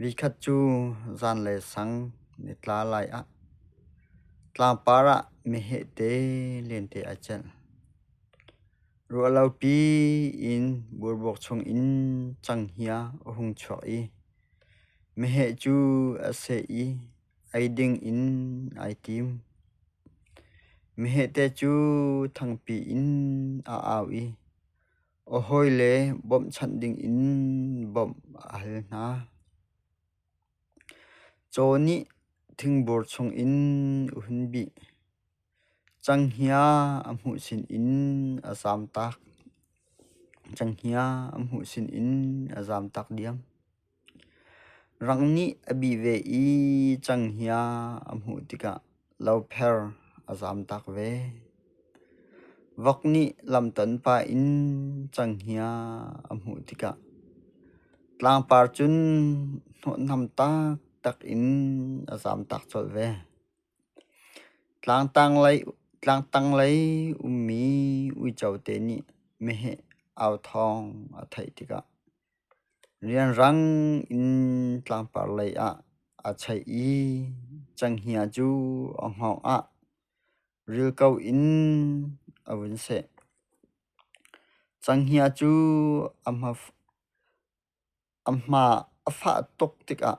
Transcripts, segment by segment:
Vi khat cu zanlei sang nitla lai ah tlangpar ah mehehte lente ai celh. Ruahlopi in burbuak chungin canghngia a hung chuak i meheh cu a seh i ei dingin ai tim. Mehehte cu thangpi in a au i A hawile bawmhchanh dingin bawmh a hal hna. Caw nih thingboor chungin a hun bih. Canghngia a hmuh sinin a zamtak. Canghngia a hmuh sinin a zamtak diam. Rang nih a bi ve i canghiah a hmuh tikah lopher a zamtak ve. Vok nih lamton pa in canghiah a hmuh tikah tlangpar cun hnawhnam taktak in a zamtak colh ve. Tlangtanglei ummi uico te nih meheh au thawng a theih tikah. Rianrang in tlangpar lei ah a cheih i cenghngia cu a hngawng ah rilko in a vun seh. Cenghngia cu a hma a fah tuk tikah.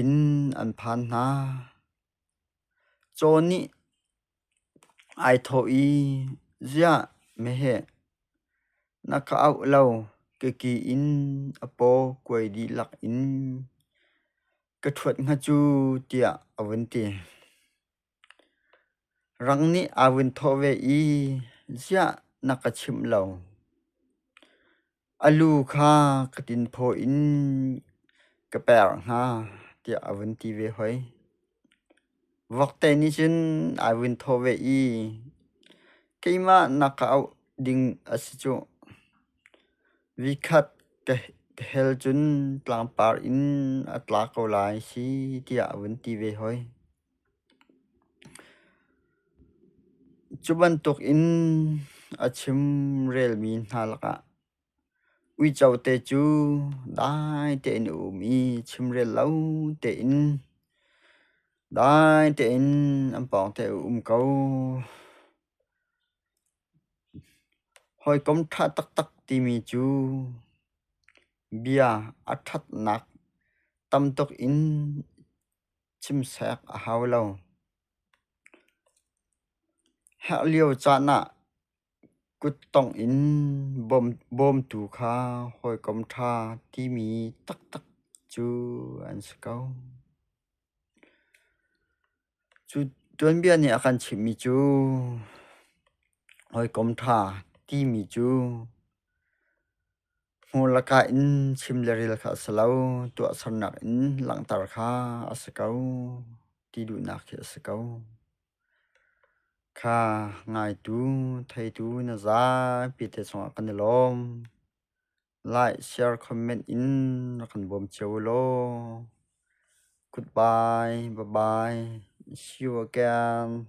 in an phan hna. Caw nih ai thawh i, "Ziah, meheh, na ka auh lo, keki in a paw kuai dihlak in ka ṭhuat hnga cu," tiah a vun ti. Rang nih aa vun thawh ve i, ziah na ka chimh lo? A lu kha ka tinphaw in ka per hnga tiah a vun ti ve hoi. Vokte nih cun aa vun thawh ve i, keimah na ka auh ding a si cuh. Vikhat ka hel cun tlangpar in a tla ko lai si tiah a vun ti ve hoi. Cu bantuk in a chim relmi hna lakah uico te cu dai tein a um i chimrel lo tein dai tein an pawng te a um ko. Hawikom ṭha taktak timi cu bia a ṭhatnak tamtuk in. Chimsek a hau lo. Herh lio caan ah kuttongh in bawmtu kha hawikom ṭha timi taktak cu an si ko. Cu tuanbia nih a kan chimhmi cu hawikom ṭha timi cu hmur lakah in chim le rel kha a si lo, tuahsernak in langhter kha a si ko, ti duhnak khi a si ko. Kha ngaitu, theitu na zapi te chungah kan i lawm. Like, share, comment in rak kan bawm cio u law. Goodbye, bye bye. See you again.